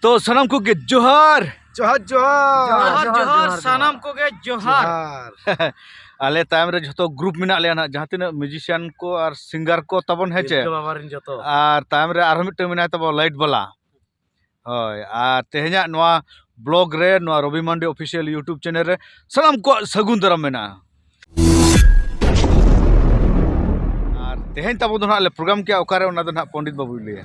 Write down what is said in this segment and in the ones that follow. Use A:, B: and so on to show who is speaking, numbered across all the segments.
A: ᱛᱚ ᱥᱟᱱᱟᱢ ᱠᱚᱜᱮ ᱡᱚᱦᱟᱨ ᱡᱚᱦᱟᱨ
B: ᱡᱚᱦᱟᱨ ᱡᱚᱦᱟᱨ ᱥᱟᱱᱟᱢ
C: ᱠᱚᱜᱮ ᱡᱚᱦᱟᱨ
A: ᱟᱞᱮ ᱛᱟᱭᱚᱢ ᱨᱮ ᱡᱷᱚᱛᱚ ᱜᱨᱩᱯ ᱢᱮᱱᱟᱜ ᱞᱮᱭᱟ ᱱᱟᱜ ᱡᱟᱦᱟᱸ ᱛᱤᱱᱟᱹᱜ ᱢᱤᱭᱩᱡᱤᱥᱤᱭᱟᱱ ᱠᱚ ᱟᱨ ᱥᱤᱝᱜᱟᱨ ᱠᱚ ᱛᱟᱵᱚᱱ ᱦᱮᱸ ᱪᱮ ᱟᱨ
B: ᱛᱟᱭᱚᱢ ᱨᱮ ᱟᱨᱦᱚᱸ
A: ᱢᱤᱫᱴᱟᱝ ᱢᱮᱱᱟᱭ ᱛᱟᱵᱚᱱ ᱞᱟᱭᱤᱴ ᱵᱟᱞᱟ ᱦᱳᱭ ᱟᱨ ᱛᱮᱦᱮᱧᱟᱜ ᱱᱚᱣᱟ ᱵᱞᱚᱜ ᱨᱮ ᱱᱚᱣᱟ Robi Mandi official YouTube channel ᱨᱮ ᱥᱟᱱᱟᱢ ᱠᱚᱣᱟᱜ ᱥᱟᱹᱜᱩᱱ ᱫᱟᱨᱟᱢ ᱢᱮᱱᱟᱜᱼᱟ ᱟᱨ ᱛᱮᱦᱮᱧ ᱛᱟᱵᱚ ᱫᱚ ᱱᱟᱜ ᱞᱮ ᱯᱨᱳᱜᱨᱟᱢ ᱠᱮᱜᱼᱟ ᱚᱠᱟᱨᱮ ᱚᱱᱟ ᱫᱚ ᱱᱟᱜ ᱯᱚᱱᱰᱤᱛ ᱵᱟᱹᱵᱩᱭ ᱞᱟᱹᱭᱟ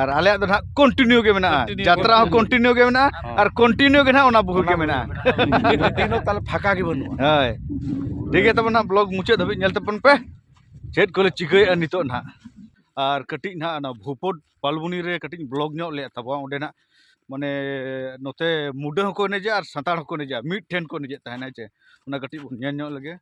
B: ᱟᱨ ᱟᱞᱮᱭᱟᱜ ᱫᱚ ᱱᱟᱦᱟᱜ
A: ᱠᱚᱱᱴᱤᱱᱤᱭᱩ ᱜᱮ ᱢᱮᱱᱟᱜᱼᱟ ᱡᱟᱛᱨᱟ ᱦᱚᱸ ᱠᱚᱱᱴᱤᱱᱤᱭᱩ ᱜᱮ ᱢᱮᱱᱟᱜᱼᱟ ᱟᱨ ᱠᱚᱱᱴᱤᱱᱤᱭᱩ ᱜᱮ ᱱᱟᱦᱟᱜ ᱚᱱᱟ ᱵᱩᱦᱩ ᱜᱮ ᱢᱮᱱᱟᱜᱼᱟ ᱫᱤᱱᱚ
B: ᱛᱟᱦᱚᱞᱮ ᱯᱷᱟᱸᱠᱟ ᱜᱮ ᱵᱟᱹᱱᱩᱜᱼᱟ ᱦᱳᱭ
A: ᱴᱷᱤᱠ ᱜᱮᱭᱟ ᱛᱟᱵᱚᱱ ᱱᱟᱦᱟᱜ ᱵᱞᱚᱜ ᱢᱩᱪᱟᱹᱫ ᱫᱷᱟᱹᱵᱤᱡ ᱧᱮᱞ ᱛᱟᱵᱚᱱ ᱯᱮ ᱪᱮᱫ ᱠᱚᱞᱮ ᱪᱤᱠᱟᱹᱭᱮᱫᱼᱟ ᱱᱤᱛᱚᱜ ᱱᱟᱦᱟᱜ ᱟᱨ ᱠᱟᱹᱴᱤᱡ ᱱᱟᱦᱟᱜ ᱚᱱᱟ ᱵᱷᱩᱯᱚᱫ ᱯᱟᱞᱵᱩᱱᱤ ᱨᱮ ᱠᱟᱹᱴᱤᱡ ᱵᱞᱚᱜ ᱧᱚᱜ ᱞᱮᱫ ᱛᱟᱵᱚᱱᱟ ᱚᱸᱰᱮ ᱱᱟᱦᱟᱜ ᱢᱟᱱᱮ ᱱᱚᱛᱮ ᱢᱩᱰᱟᱹ ᱦᱚᱸᱠᱚ ᱮᱱᱮᱡᱟ ᱟᱨ ᱥᱟᱱᱛᱟᱲ ᱦᱚᱸᱠᱚ ᱮᱱᱮᱡᱟ ᱢᱤᱫ ᱴᱷᱮᱱ ᱠᱚ ᱮᱱᱮᱡᱮᱫ ᱛᱟᱦᱮᱱᱟ ᱦᱮᱸ ᱪᱮ ᱚᱱᱟ ᱠᱟᱹᱴᱤᱡ ᱵᱚᱱ ᱧᱮᱞ ᱧᱚᱜ ᱞᱮᱜᱮ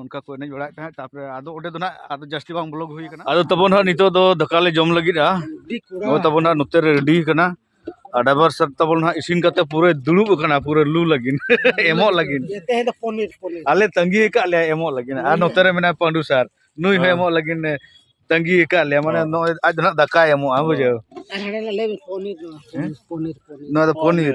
A: ᱚᱱᱠᱟ ᱠᱚ ᱮᱱᱮᱡ ᱵᱟᱲᱟᱭᱮᱫ ᱛᱟᱦᱮᱸᱫ ᱛᱟᱨᱯᱚᱨᱮ ᱟᱫᱚ ᱚᱸᱰᱮ ᱫᱚ ᱱᱟᱦᱟᱜ ᱟᱫᱚ ᱡᱟᱹᱥᱛᱤ ᱵᱟᱝ ᱵᱞᱚᱜᱽ ᱦᱩᱭ ᱠᱟᱱᱟ ᱟᱫᱚ ᱛᱟᱵᱚᱱ ᱦᱟᱸᱜ ᱱᱤᱛᱚᱜ ᱫᱚ ᱫᱟᱠᱟ ᱞᱮ ᱡᱚᱢ ᱞᱟᱹᱜᱤᱫᱼᱟ ᱱᱚᱜᱼᱚᱭ ᱛᱟᱵᱚᱱ ᱦᱟᱸᱜ ᱱᱚᱛᱮ ᱨᱮ ᱨᱮᱰᱤ ᱠᱟᱱᱟ ᱟᱨ ᱰᱟᱭᱵᱷᱟᱨ ᱥᱟᱨ ᱛᱟᱵᱚᱱ ᱦᱟᱸᱜ ᱤᱥᱤᱱ ᱠᱟᱛᱮ ᱯᱩᱨᱟᱹ ᱫᱩᱲᱩᱵ ᱟᱠᱟᱱᱟ ᱯᱩᱨᱟᱹ ᱞᱩ ᱞᱟᱹᱜᱤᱫ ᱮᱢᱚᱜ ᱞᱟᱹᱜᱤᱫ ᱛᱮᱦᱮᱧ ᱫᱚ
B: ᱯᱚᱱᱤᱨ ᱯᱚᱱᱤᱨ ᱟᱞᱮ ᱛᱟᱺᱜᱤ ᱟᱠᱟᱫ ᱞᱮᱭᱟ
A: ᱮᱢᱚᱜ ᱞᱟᱹᱜᱤᱫ ᱟᱨ ᱱᱚᱛᱮ ᱨᱮ ᱢᱮᱱᱟᱭᱟ ᱯᱟᱺᱰᱩ ᱥᱟᱨ ᱱᱩᱭ ᱦᱚᱸ ᱮᱢᱚᱜ ᱞᱟᱹᱜᱤᱫ ᱛᱟᱺᱜᱤ ᱟᱠᱟᱫ ᱞᱮᱭᱟ ᱢᱟᱱᱮ ᱱᱚᱜᱼᱚᱭ ᱟᱡ ᱫᱚ ᱦᱟᱸᱜ ᱫᱟᱠᱟᱭ ᱮᱢᱚᱜᱼᱟ ᱵᱩᱡᱷᱟᱹᱣ ᱟᱨ ᱦᱟᱸᱰᱮ ᱞᱮ ᱞᱟᱹᱭ ᱯᱚᱱᱤᱨ ᱱᱚᱣᱟ
B: ᱯᱚᱱᱤᱨ
A: ᱯᱚᱱᱤᱨ ᱱᱚᱣᱟ ᱫᱚ ᱯᱚᱱᱤᱨ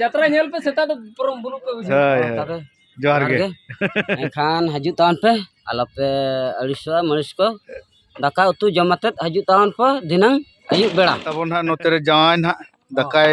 D: ᱡᱟᱛᱨᱟ ᱧᱮᱞ ᱯᱮ ᱥᱮᱛᱟᱜ ᱫᱚ ᱯᱩᱨᱟᱹ ᱵᱩᱞᱩᱜ ᱯᱮ ᱵᱩᱡᱷᱟᱹᱣ
A: ᱡᱚᱦᱟᱨ ᱜᱮ ᱮᱱᱠᱷᱟᱱ
E: ᱦᱤᱡᱩᱜ ᱛᱟᱵᱚᱱ ᱯᱮ ᱟᱞᱚᱯᱮ ᱟᱹᱲᱤᱥᱚᱜᱼᱟ ᱢᱟᱹᱲᱤᱥ ᱠᱚ ᱫᱟᱠᱟ ᱩᱛᱩ ᱡᱚᱢ ᱟᱛᱮᱫ ᱦᱤᱡᱩᱜ ᱛᱟᱵᱚᱱ ᱯᱮ ᱫᱷᱤᱱᱟᱹᱝ ᱟᱹᱭᱩᱵ ᱵᱮᱲᱟ ᱛᱟᱵᱚᱱ ᱦᱟᱸᱜ ᱱᱚᱛᱮ ᱨᱮ ᱡᱟᱶᱟᱭ
A: ᱱᱟᱦᱟᱜ ᱫᱟᱠᱟᱭ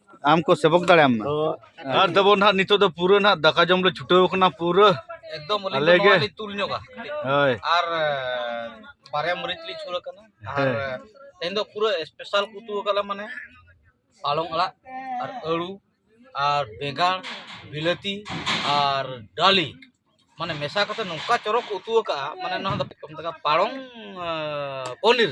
E: ᱟᱢ ᱠᱚ ᱥᱮᱵᱚᱠ
A: ᱫᱟᱲᱮᱭᱟᱢ ᱢᱟ ᱟᱨ ᱛᱟᱵᱚᱱ ᱱᱟᱦᱟᱜ ᱱᱤᱛᱚᱜ ᱫᱚ ᱯᱩᱨᱟᱹ ᱱᱟᱦᱟᱜ ᱫᱟᱠᱟ ᱡᱚᱢ ᱞᱮ ᱪᱷᱩᱴᱟᱹᱣ ᱠᱟᱱᱟ ᱯᱩᱨᱟᱹ ᱮᱠᱫᱚᱢ ᱟᱞᱮ
C: ᱜᱮ ᱛᱩᱞ
A: ᱧᱚᱜᱟ
C: ᱦᱳᱭ ᱟᱨ ᱵᱟᱨᱭᱟ ᱢᱟᱹᱨᱤᱪ ᱞᱤᱧ ᱥᱩᱨ ᱟᱠᱟᱱᱟ ᱟᱨ ᱛᱮᱦᱮᱧ ᱫᱚ ᱯᱩᱨᱟᱹ ᱥᱯᱮᱥᱟᱞ ᱠᱚ ᱩᱛᱩ ᱟᱠᱟᱫ ᱞᱮ ᱢᱟᱱᱮ ᱯᱟᱞᱚᱝ ᱟᱲᱟᱜ ᱟᱨ ᱟᱹᱲᱩ ᱟᱨ ᱵᱮᱸᱜᱟᱲ ᱵᱤᱞᱟᱹᱛᱤ ᱟᱨ ᱰᱟᱹᱞᱤ ᱢᱟᱱᱮ ᱢᱮᱥᱟ ᱠᱟᱛᱮ ᱱᱚᱝᱠᱟ ᱪᱚᱨᱚᱠ ᱠᱚ ᱩᱛᱩ ᱟᱠᱟᱫᱼᱟ ᱢᱟᱱᱮ ᱱᱚᱣᱟ ᱫᱚ ᱯᱟᱞᱚᱝ ᱯᱚᱱᱤᱨ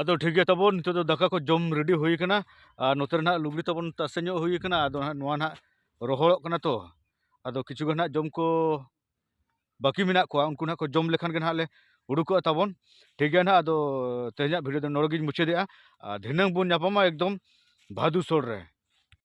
A: ᱟᱫᱚ ᱴᱷᱤᱠ ᱜᱮᱭᱟ ᱛᱟᱵᱚᱱ ᱱᱤᱛᱚᱜ ᱫᱚ ᱫᱟᱠᱟ ᱠᱚ ᱡᱚᱢ ᱨᱮᱰᱤ ᱦᱩᱭ ᱠᱟᱱᱟ ᱟᱨ ᱱᱚᱛᱮ ᱨᱮᱱᱟᱜ ᱞᱩᱜᱽᱲᱤ ᱛᱟᱵᱚᱱ ᱛᱟᱥᱮ ᱧᱚᱜ ᱦᱩᱭ ᱠᱟᱱᱟ ᱟᱫᱚ ᱦᱟᱸᱜ ᱱᱚᱣᱟ ᱱᱟᱜ ᱨᱚᱦᱚᱲᱚᱜ ᱠᱟᱱᱟ ᱛᱚ ᱟᱫᱚ ᱠᱤᱪᱷᱩ ᱜᱟᱱ ᱦᱟᱸᱜ ᱡᱚᱢ ᱠᱚ ᱵᱟᱹᱠᱤ ᱢᱮᱱᱟᱜ ᱠᱚᱣᱟ ᱩᱱᱠᱩ ᱱᱟᱜ ᱠᱚ ᱡᱚᱢ ᱞᱮᱠᱷᱟᱱ ᱜᱮ ᱱᱟᱜ ᱞᱮ ᱩᱰᱩᱠᱚᱜᱼᱟ ᱛᱟᱵᱚᱱ ᱴᱷᱤᱠ ᱜᱮᱭᱟ ᱱᱟᱜ ᱟᱫᱚ ᱛᱮᱦᱮᱧᱟᱜ ᱵᱷᱤᱰᱤᱭᱳ ᱫᱚ ᱱᱚᱰᱮ ᱜᱤᱧ ᱢᱩᱪᱟᱹᱫᱮᱜᱼᱟ ᱟᱨ ᱫᱷᱤᱱᱟᱹᱝ ᱵᱚᱱ ᱧᱟᱯᱟᱢᱟ ᱮᱠᱫᱚᱢ ᱵᱷᱟᱫᱩ ᱥᱳᱲ ᱨᱮ